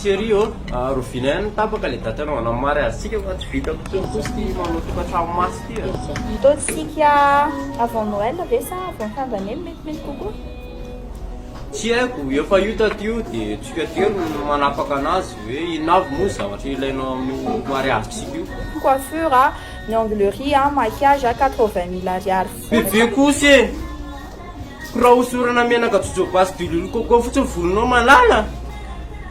Cherie ô, rovina ihany ny tapaka le date anaovana ny mariazintsika fa tsy vita intsony kosa ity manao tokantrano mafy ity a. Ataontsika avant Noël ve sa avant fin d'année no metimety kokoa? Tsy haiko, efa io taty io dia tsika telo no manapaka anazy hoe inona avy moa ny zavatra ilainao amin'io mariazintsika io. Coiffure a, ny anglerie a, maquillage a, quatre-vingt mille ariary fotsiny. Bebe kosa e! Birao osorana menaka jojoba sy diloilo coco fotsiny volonao malala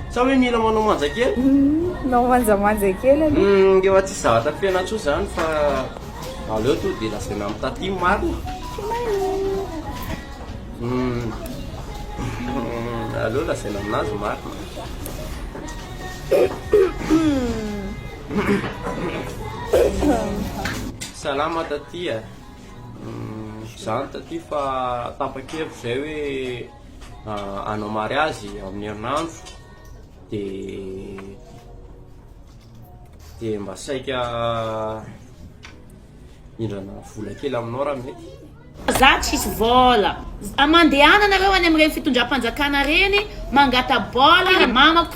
sa hoe mila manao manja kely? Hum, nao manja manja kely aloha. Hum, ngefa tsisy zavatra fena tsoa zany fa aleo to de lazaina am taty marina. Hum, aleo lazaina aminazy marina. Salama taty a. Zany taty fa tapa-kevitra zay hoe hanao mariazy amin'ny herinandro de de mba saika hindrana vola kely aminao raha mety. Za tsisy vola. Mandehananareo any amin'ireny fitondram-panjakana ireny mangata-bola mamako.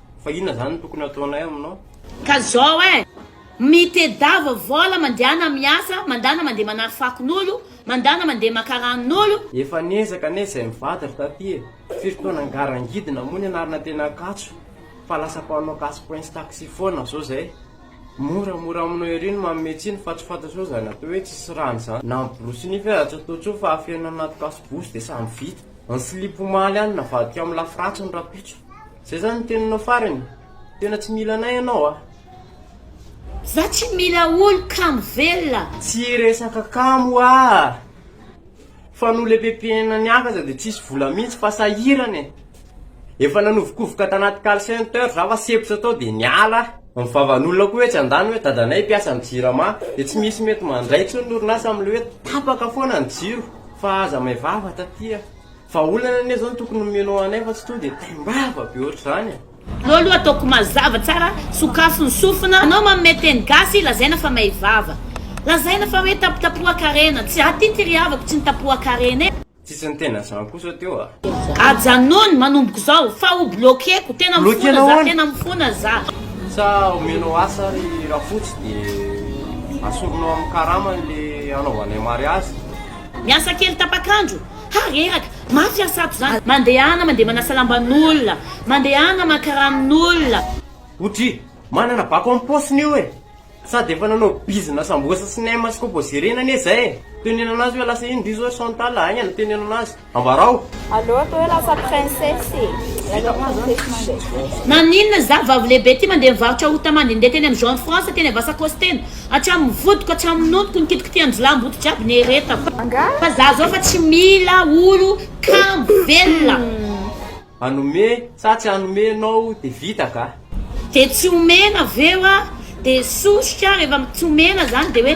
Fa inona zany no tokony ataonay aminao? Ka zao eh! Mitedava vola mandehana miasa, mandana mandeha manary fakon'olo, mandana mandeha maka ranon'olo. Efa niezaka anie izay mivady ry taty e! Firy taona ngarangidina moa nianarana teny Ankatso fa lasa mpanao casse points taxi foana zao zay. Mora mora aminao ery ny manome tsiny fa tsy fantatro hoe zany atao hoe tsisy rano zany na miborosy nify aza tsy ataontsony fa afenina anaty casse bouche de samy vita. Ny slip omaly any navadika amin'ny lafy ratsiny rahampitso. Zay zany ny teninao farany? Tena tsy mila anay ianao a! Za tsy mila olo kamo velona! Tsy resaka kamo a! Fa noho le pepihena niaka aza de tsisy vola mihitsy fa sahirana e! Efa nanovokovoka tanaty call center za fa sempotra tao de niala aho! Ny vavan'olona koa etsy an-dany hoe dadanay mpiasa am jirama de tsy misy mety mandray intsony ny orinasa am le hoe tapaka foana ny jiro fa aza may vava taty a! Fa olana anie zao no tokony omenao anay fa tsy tonga dia taimbava be ohatr'izany e! Anao aloha ataoko mazava tsara, sokafy ny sofina, anao manome teny gasy lazaina fa may vava, lazaina fa hoe tapitapohan-karena, tsy za ty ty ry havako tsy nitapohan-karena e! Tsisy ny tena zany kosa teo a! Ajanony manomboka izao fa ho bloquer-ko, tena mifona za, tena mifona za! Sa omenao asa ary rafotsy dia asorinao amin'ny karama le hanaovanay mariazy? Miasa kely tapak'andro, Ha reraka! Mafy an sato zany. Mandehana mandeha manasa lamban'olona, mandehana maka ranon'olona. Otri manana bako am paosiny io e! Sady efa nanao bizina sambosa sy nem sy composé reny anie zay e! Tenenana azy hoe lasa ino ry zao Chantal a! Aingana tenenana azy! Ambarao! Aleo atao hoe lasa princesse e! Lasa princesse mandeha. Naninona zaho vavy lehibe ty mandeha mivarotra ota mandende teny am Jean France teny am Vasakozy teny Hatramin'ny vodiko hatramin'ny nonoko ny kitikitihan-jilamboto jiaby nieretako fa za zao fa tsy mila olo kamo velona. Hanome sa tsy hanome enao de vita gah. De tsy omena ve wa de sosotra rehefa tsy omena zany de hoe.